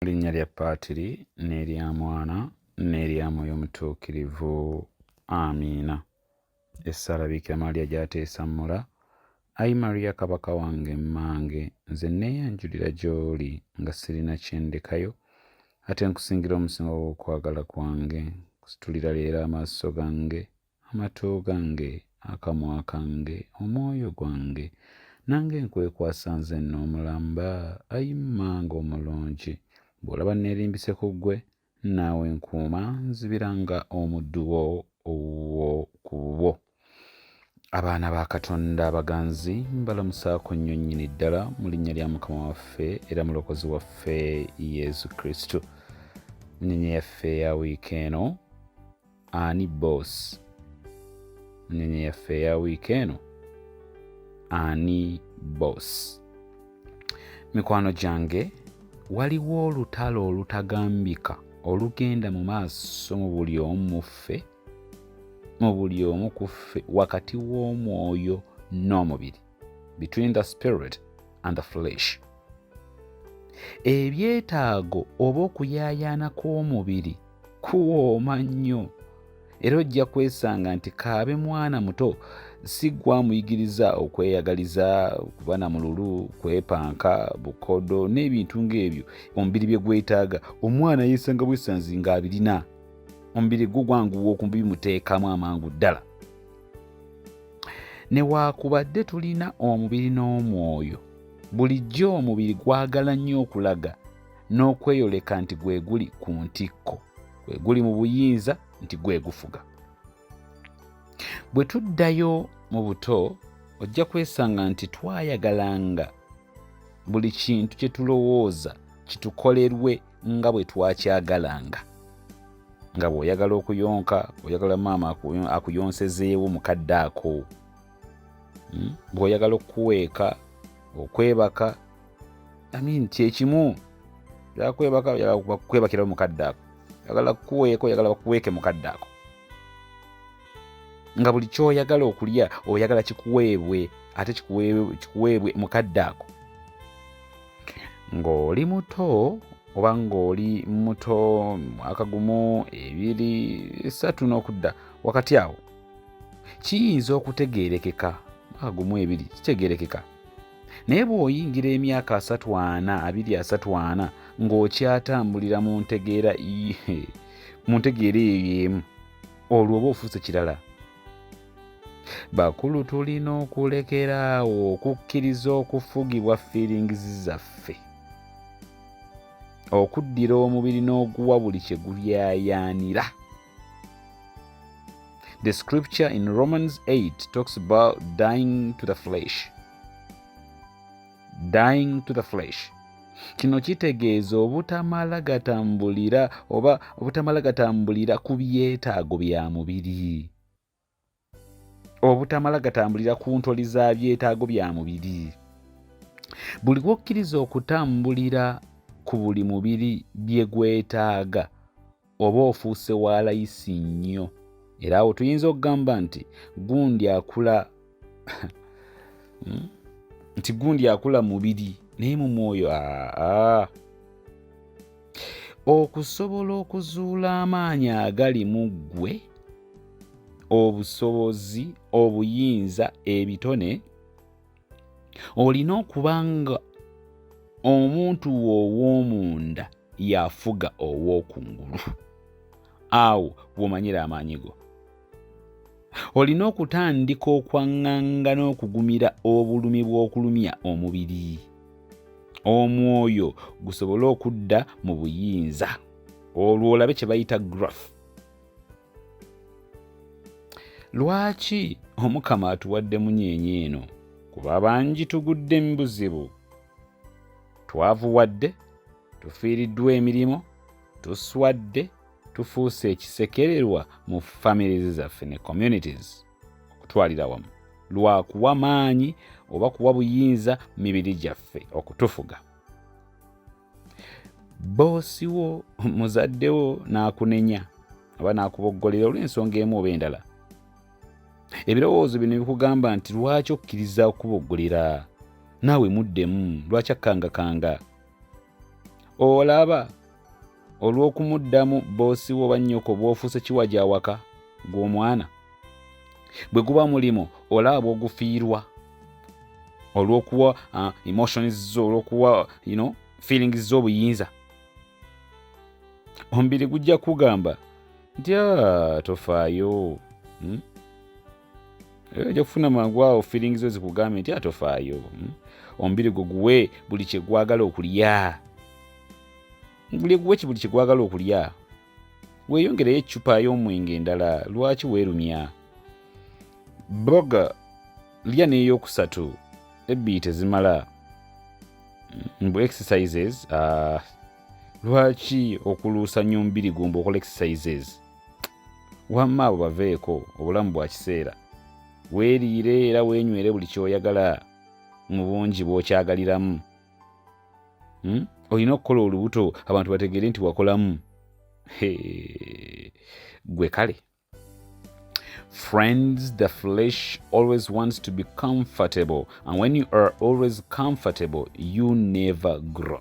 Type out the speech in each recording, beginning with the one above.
linnya lya paatiri n'erya mwana n'erya mwoyo mutuukirivu amiina essaala biikira maria gyateesa mula ayi maria kabaka wange mmange nze neeyanjulira gy'oli nga sirina kyendekayo ate nkusingira omusingo gw'okwagala kwange kusitulira leero amaaso gange Amatu gange, akamwa kange, omwoyo gwange, nange nkwekwasa nze nno omulamba, ayi mmange omulungi, bw'olaba nneerimbise ku ggwe, naawe nkuuma, nzibira nga omuddu wo ow'oku bubwo. Abaana ba Katonda abaganzi mbalamusaako nnyo nnyini ddala mu linnya lya Mukama waffe era Mulokozi waffe Yesu Kristo. Nnyonyi yaffe ya wiiki eno ani boss nyanya yaffe eya wiiki eno ani boss mikwano gyange waliwo olutalo olutagambika olugenda mu maaso mu buli omu muffe mu buli omu kuffe wakati w'omwoyo n'omubiri between the spirit and the flesh ebyetaago oba okuyaayaana kw'omubiri kuwooma nnyo era ojja kwesanga nti kaabe mwana muto si gwamuyigiriza okweyagaliza kuba na mululu kwepanka bukodo n'ebintu ng'ebyo omubiri bye gwetaaga omwana yeesanga bwesanzi ng'abirina omubiri gwo gwanguwa okubimuteekamu amangu ddala newaakubadde tulina omubiri n'omwoyo bulijjo omubiri gwagala nnyo okulaga n'okweyoleka nti gwe guli ku ntikko gwe guli mu buyinza nti gwe gufuga bwe tuddayo mu buto ojja kwesanga nti twayagalanga buli kintu kye tulowooza kitukolerwe nga bwe twakyagalanga nga bw'oyagala okuyonka oyagala maama akuyonsezeewo mukadde ako hmm? bw'oyagala okukuweeka okwebaka amin kyekimu yakwebaka yakwebakirawo mukadde ako yagala kukuweeka oyagala bakuweeke mukadde ako nga buli kyoyagala okulya oyagala kikuweebwe ate kikuweebwe mukadde ako ng'oli muto oba ng'oli muto mwaka gumu ebiri satu n'okudda wakati awo kiyinza okutegeerekeka mwaka gumu ebiri kitegeerekeka naye bw'oyingira emyaka asatu ana abiri asatu ana ng'okyatambulira mu ntegeera mu ntegeera eyo emu olwo oba ofuuse kirala bakulu tulina okulekera awo okukkiriza okufugibwa fiiringizi zaffe okuddira omubiri n'oguwa buli kye gulyayaanira the scripture in romans 8 talks about dying to the flesh dying to the flesh kino kitegeeza obutamala gatambulira oba obutamala gatambulira ku byetaago bya mubiri obutamala gatambulira ku ntoli za byetaago bya mubiri buli wokkiriza okutambulira ku buli mubiri bye gwetaaga oba ofuuse wa layisi nnyo era awo tuyinza okugamba nti gundi akula hmm? nti gundi akula mubiri naye mu mwoyo aa okusobola okuzuula amaanyi agali mu ggwe obusobozi obuyinza ebitone olina okuba nga omuntu wo ow'omunda yafuga ow'okungulu awo womanyira amaanyi go olina okutandika okwaŋŋanga n'okugumira obulumi bw'okulumya omubiri omwoyo gusobole okudda mu buyinza olwo olabe kye bayita graph lwaki omukama atuwadde munyenye eno kuba bangi tugudde mu buzibu twavuwadde tufiiriddwa emirimu tuswadde tufuuse ekisekererwa mu families zaffe ne communities okutwalira wamu lwa kuwa maanyi oba kuwa buyinza mibiri gyaffe okutufuga boosi wo muzadde wo n'akunenya oba n'akuboggolera olw'ensonga emu oba endala ebirowoozo bino bikugamba nti lwaki okkiriza okuboggolera naawe muddemu lwaki akkangakanga olaba olw'okumuddamu boosi wo oba nnyoko bw'ofuuse kiwa gy'awaka gw'omwana bwe guba mulimu olaba bw'ogufiirwa olw'okuwa uh, emotions zo olw'okuwa you know, feelings zo obuyinza omubiri gujja kugamba nti ah, tofaayo hmm? Eh, ojja kufuna mangu awo feeling zo zikugambye nti atofaayo hmm? omubiri gwo guwe buli kyegwagala okulya buli guwe buli kyegwagala okulya weeyongereyo eccupa y'omwenge endala lwaki weerumya boga lya n'eyokusatu ebbiri tezimala mbu exercises uh, lwaki okuluusa nnyo omubiri gumba okola exercises wamma abo baveeko obulamu bwa kiseera weeriire era weenywere buli kyoyagala mu bungi bw'okyagaliramu hmm? olina okukola olubuto abantu bategeere nti wakolamu gwe kale Friends, the flesh always wants to be comfortable, and when you are always comfortable, you never grow.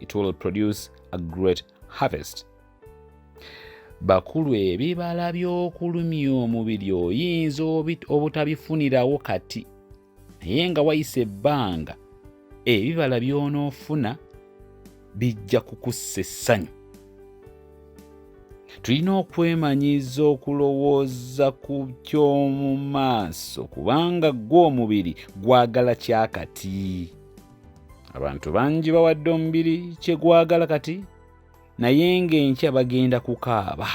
it will produce a great harvest bakulu ebibala by'okulumya omubiri oyinza obutabifunirawo kati naye nga wayisa ebbanga ebibala by'onoofuna bijja kukussa essanyu tulina okwemanyiza okulowooza ku ky'omu maaso kubanga gwo omubiri gwagala kyakati abantu bangi bawadde omubiri kye gwagala kati naye ng'enkya bagenda kukaaba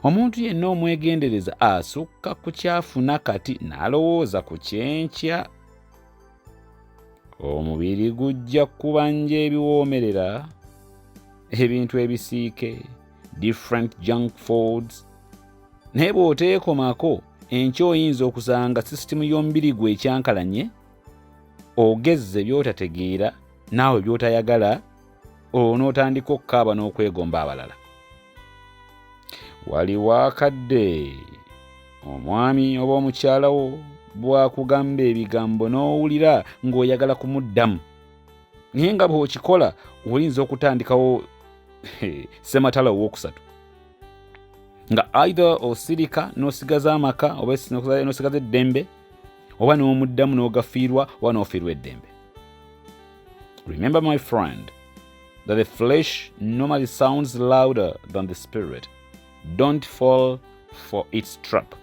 omuntu yenna omwegendereza asukka ku kyafuna kati n'alowooza ku kyenkya omubiri gujja kubanja ebiwoomerera ebintu ebisiike different junk foods naye bw'oteekomako enkya oyinza okusanga sisitimu y'omubiri gwe ekyankalanye ogezze by'otategeera naawe by'otayagala olwo n'otandika okukaaba n'okwegomba abalala waliwo akadde omwami oba omukyala wo bw'akugamba ebigambo n'owulira ng'oyagala kumuddamu naye nga bw'okikola oyinza okutandikawo sematala owokusatu nga either osirika n'osigaza amaka oba n'osigaza eddembe oba n'omuddamu n'ogafiirwa oba n'ofiirwa eddembe remember my friend that the flesh normally sounds louder than the spirit don't fall for its trap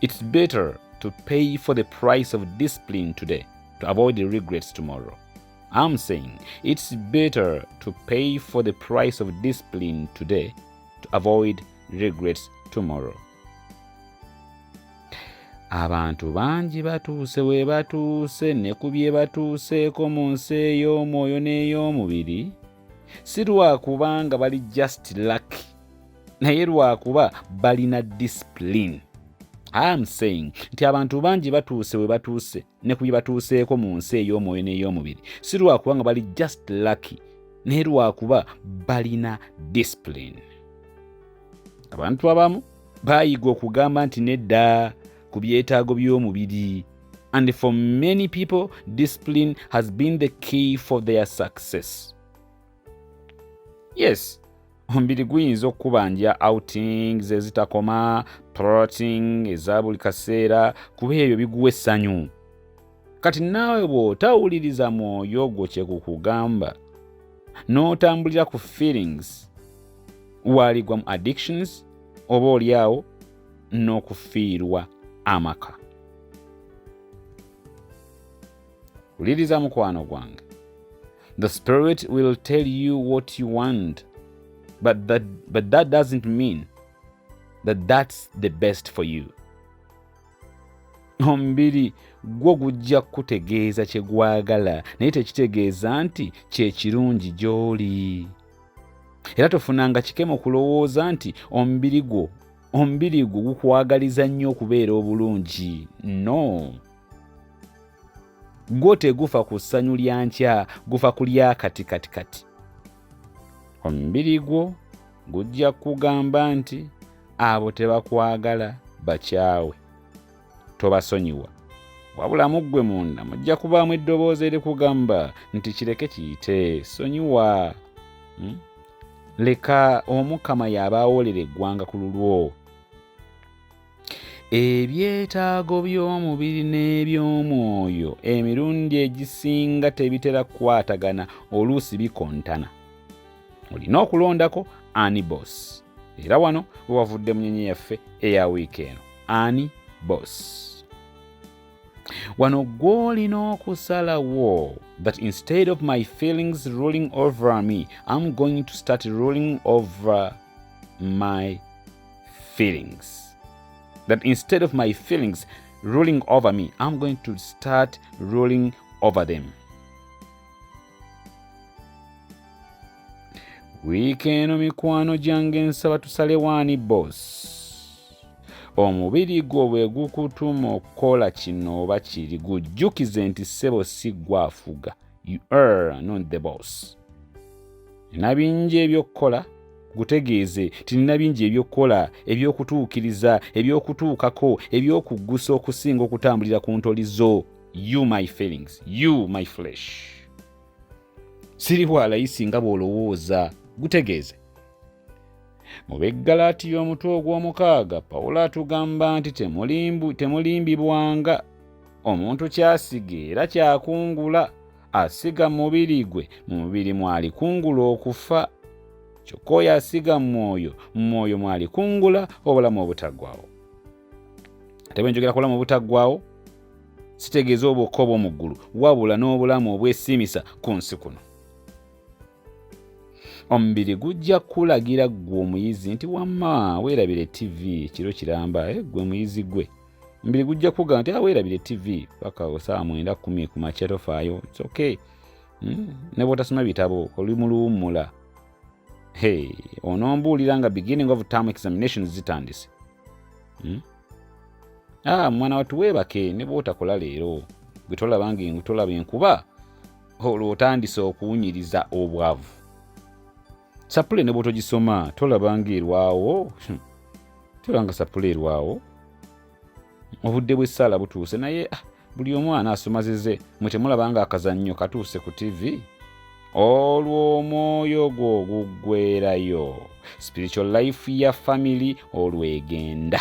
it's better to pay for the price of discipline today to avoid the regrets tomorrow I'm saying it's better to pay for the price of discipline today to avoid regrets tomorrow. abantu bangi batuuse we batuuse ne ku bye batuuseeko mu nsi ey'omwoyo n'ey'omubiri si lwakuba nga bali just luck naye lwakuba balina discipline am saying nti abantu bangi batuuse we batuuse ne ku bye batuuseeko mu nsi ey'omwoyo n'ey'omubiri si lwakuba nga bali just lucky naye lwakuba balina discipline abantu abamu bayiga okugamba nti nedda ku byetaago by'omubiri and for many people discipline has been the key for their success yes omubiri guyinza okukubanja outing zezitakoma proting eza buli kaseera kuba ebyo biguwa essanyu kati naawe bw'otawuliriza mwoyo ogwo kye gukugamba n'otambulira ku feelings waaligwa mu addictions oba olyawo n'okufiirwa amaka wuliriza mukwano gwange The Spirit will tell you what you want, but that, but that doesn't mean that that's the best for you. Omubiri gwo gujja kukutegeeza kye gwagala naye tekitegeeza nti kye kirungi gy'oli. Era tofunanga kikemo kulowooza nti omubiri gwo omubiri gwo gukwagaliza nnyo okubeera obulungi. No. gwo tegufa ku ssanyu lya nkya gufa ku lya kati kati kati omubiri gwo gujja kugamba nti abo tebakwagala bakyawe tobasonyiwa wabula muggwe munda mujja kubaamu eddoboozi erikugamba nti kireke kiyite sonyiwa hmm? leka omukama y'abaawolera eggwanga ku lulwo Ebyetaago by'omubiri n'eby'omwoyo emirundi egisinga tebitera kukwatagana, oluusi bikontana. Olina okulondako ani boss, era wano we wavudde munyenye yaffe eya wiiki eno. Ani boss? Wano gw'olina okusalawo that instead of my feelings ruling over me, I'm going to start ruling over my feelings. That instead of my feelings ruling over me, I'm going to start ruling over them. wiiki eno mikwano gyange nsaba tusale waani boss omubiri gwo bwe gukutuma okukola kino oba kiri gujjukize nti ssebo si gwafuga you are not the boss nina bingi ebyokukola gutegeeze tinina bingi ebyokukola ebyokutuukiriza ebyokutuukako ebyokuggusa okusinga okutambulira ku ntoli zo you my feelings you my flesh siri walayisi nga bw'olowooza gutegeeze mu beggalaati y'omutwe ogw'omukaaga pawulo atugamba nti temulimbibwanga omuntu kyasiga era kyakungula asiga mubiri gwe mu mubiri mwalikungula okufa kyokka oyo asiga mu mwoyo mu mwoyo mwalikungula obulamu obutaggwawo ate bwe njogera kubulamu obutaggwawo sitegeeza obwokka obw'omu ggulu wabula n'obulamu obwesiimisa ku nsi kuno omubiri gujja kulagira ggwe omuyizi nti wamma weerabire ttivi ekiro kiramba eh, ggwe muyizi gwe omubiri gujja kuga nti aweerabire ah, tv paka osaa mwenda kumi ku makya tofaayo its okay hmm? ne bwotasoma bitabo oli mu luwummula hey, onombuulira nga beginning of term examinations zitandise hmm? ah, mwana watu weebake ne bwotakola leero gwe tolabanga tolaba enkuba olwo otandise okuwunyiriza obwavu sapule ne bwotogisoma tolaba nga erwawo hmm. tolaba nga sapule erwawo obudde bw'essaala butuuse naye ah, buli omu anaasoma zize mwe temulaba nga akazannyo katuuse ku tivi olwo omwoyo gwo guggwerayo spiritual life ya family olwegenda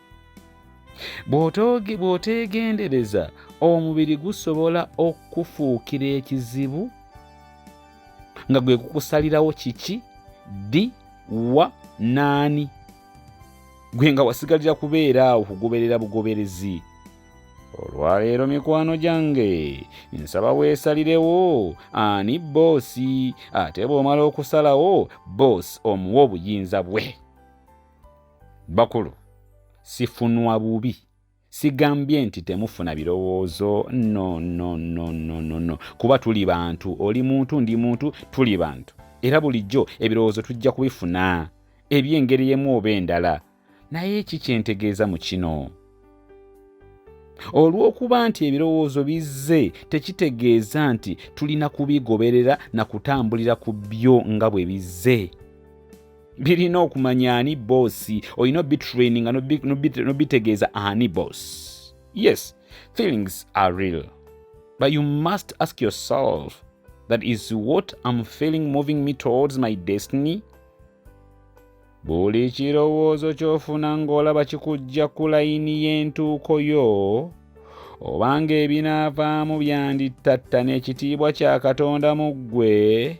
bw'oteegendereza omubiri gusobola okukufuukira ekizibu nga gwe kukusalirawo kiki ddi wa naani gwe nga wasigalira kubeera awo kugoberera bugoberezi olwaleero mikwano gyange nsaba weesalirewo ani boosi ate bw'omala okusalawo boosi omuwa obuyinza bwe bakulu sifunwa bubi sigambye nti temufuna birowoozo no no no no no no kuba tuli bantu oli muntu ndi muntu tuli bantu era bulijjo ebirowoozo tujja kubifuna ebyengeri emu oba endala naye ki kyentegeeza mu kino olw'okuba nti ebirowoozo bizze tekitegeeza nti tulina kubigoberera na kutambulira ku byo nga bwe bizze birina okumanya ani boosi olina obitraininga nobitegeeza ani boss yes feelings are real but you must ask yourself that is what am feeling moving me towards my destiny Buli kirowoozo ky'ofuna ng'olaba kikujja ku layini y'entuuko yo, oba ng'ebinaavaamu byandittatta n'ekitiibwa kya Katonda mu ggwe,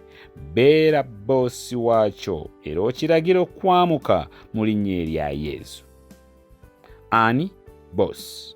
beera bboosi waakyo era okiragira okukwamuka mu linnya erya Yesu. Ani bboosi?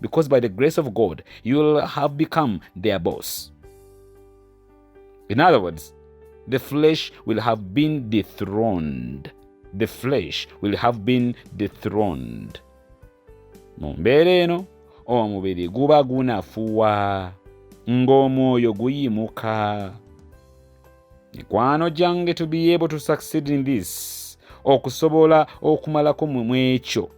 because by the grace of God, you'll have become their boss. In other words, the flesh will have been dethroned. The flesh will have been dethroned. mu mbeera eno omubiri guba gunafuwa ng'omwoyo guyimuka mikwano gyange to be able to succeed in this okusobola okumalako mwekyo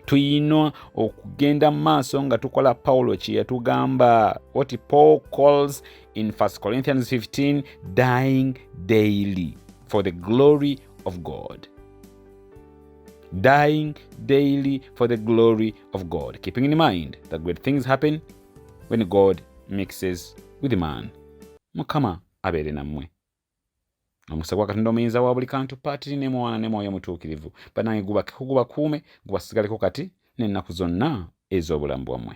tuyina okugenda mu maaso nga tukola pawulo kye yatugamba what paul calls in 1 corinthians 15 dying daily for the glory of god dying daily for the glory of god keeping in mind that great things happen when god mixes with man mukama abeere nammwe omukisa gwa katonda omuyinza wa buli kantu paatiri ne mwana ne mwoyo mutuukirivu banange gubakuume gubasigaleko kati n'ennaku zonna ez'obulamu bwammwe